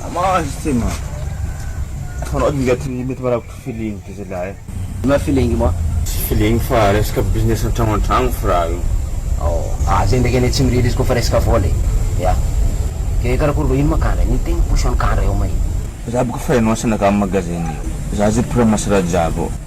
Maman azy tsy ma fanao ady ingaty mety marabotra feeling de zalahy eh. Inona feeling ma? Tsy feeling fa resaka business antragno antragno fra io. Ao ah zay ndraiky anie tsy mirehitra izy koa fa resaka vola e. Ya. Dia karakory vahiny ma kandra? Ny tegna position kandra eo ma e. Za boka fa ianao sy anakà magasin eo. Za ze mpiramassy raha jiaby ao.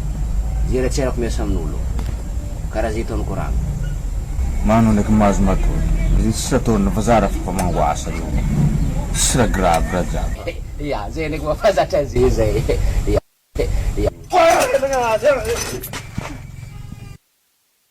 Jeratserako miasa amin'olo karaha zay ataon'i Korama. Manao ndraiky mahazo matoa. Izy tsisy atao ndra fa zara fa mangoasa io. Tsisy raha grave raha jiaby. Ia zay ndraiky mba fa zatra ze zay ia ia.